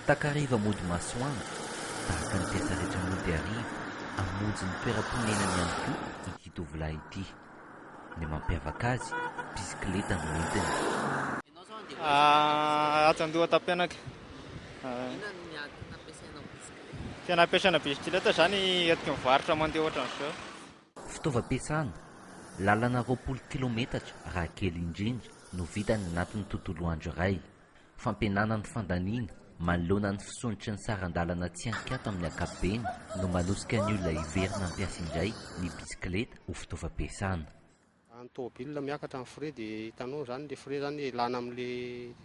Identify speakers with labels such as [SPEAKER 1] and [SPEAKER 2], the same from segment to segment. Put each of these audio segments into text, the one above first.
[SPEAKER 1] Takariva mody masoandro, tahaka ny mpiasa rehetra mody hariva, hamonjy ny toeram-ponenany ihany koa ity tovolahy ity. Ny mampiavaka azy, bisikileta no entiny. Ianao izao handeha ho aiza
[SPEAKER 2] ianao? Atsy Andohatampianaka. Inona no miady nampiasainao bisikileta? Tena ampiasaina bisikileta izany entiky ny varotra mandeha ohatran'izao. Fitaovam-piasana,
[SPEAKER 1] lalana roapolo kilaometatra raha kely indrindra no vitany anatin'ny tontolo andro iray. Fampihenana ny fandaniana manoloana ny fisondrotry ny saran-dalana tsy an-kiato amin'ny ankapobeny no manosika ny olona hiverina hampiasa indray ny bisikileta ho fitaovam-piasana. Raha ny
[SPEAKER 3] tomobilina miakatra ny frais dia hitanao izany, ilay frais izany ilàna amin'ilay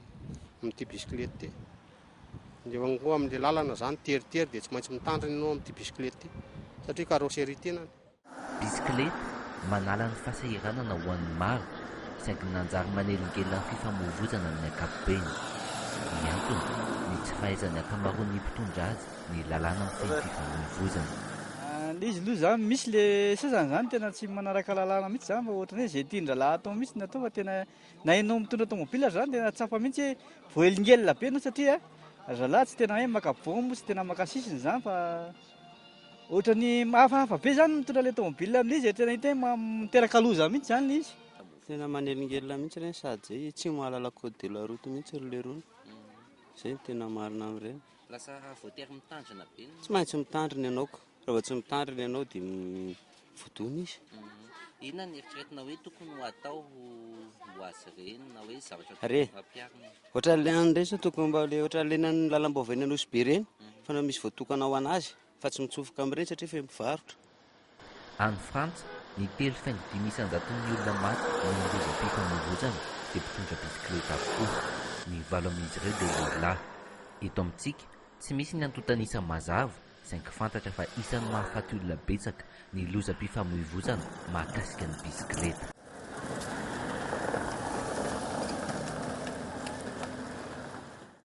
[SPEAKER 3] amin'ity bisikileta ity. Dia eo koa amin'ilay lalana izany, teritery dia tsy maintsy mitandrina ianao amin'ity bisikileta ity satria carrosserie tenany. Bisikileta,
[SPEAKER 1] manala ny fahasahiranana ho an'ny maro, saingy nanjary manelingelina ny fifamoivoizana amin'ny ankapobeny. Ny antony, ny tsy fahaizan'ny ankamaroan'ny mpitondra azy ny lalàna mifehy ny fifamoivoizana. Ny izy
[SPEAKER 4] aloha izany misy le sasany izany tena tsy manaraka lalàna mihitsy izany fa ohatran'ny hoe izay tian-drahalahy atao mihitsy no atao fa tena na ianao mitondra tomobila aza izany tena tsapa mihitsy hoe voaelingelina be ianao satria ry zalahy tsy tena hoe maka bomba, tsy tena maka sisiny izany fa Ohatran'ny hafahafa be zany mitondra ilay tomobile amin'izy e, tena hita hoe miteraka loza mihitsy zany ilay izy. Tena manelingelina
[SPEAKER 5] mihitsy ireny sady zay tsy mahalala code de la route mihitsy ry leroa, zay no tena marina amin'ireny. Lasa voatery
[SPEAKER 1] mitandrina be ny. Tsy maintsy mitandrina
[SPEAKER 5] ianao ka, raha vao tsy mitandrina ianao dia. voadona izy. Inona ny
[SPEAKER 1] eritreretina hoe tokony ho atao ho azy ireny na hoe zavatra tokony ho ampiharina?
[SPEAKER 5] Ohatran'ilay any ireny sao tokony mba ilay ohatran'ilay eny amin'ny lalam-baovao eny Nosy be ireny, fa misy voatokana ho an'azy fa tsy mitsofoka amin'ireny satria feno mpivarotra. Any
[SPEAKER 1] Frantsa, ny telo faingo dimy isan-jaton'ny olona maty amin'ny lozam-pifamoivoizana dia mpitondra bisikileta avokoa. Ny valo amin'izy ireo dia lehilahy. Eto amintsika, tsy misy ny antontan'isa mazava, saingy fantatra fa isan'ny mahafaty olona betsaka ny lozam-pifamoivozana mahakasika ny bisikileta.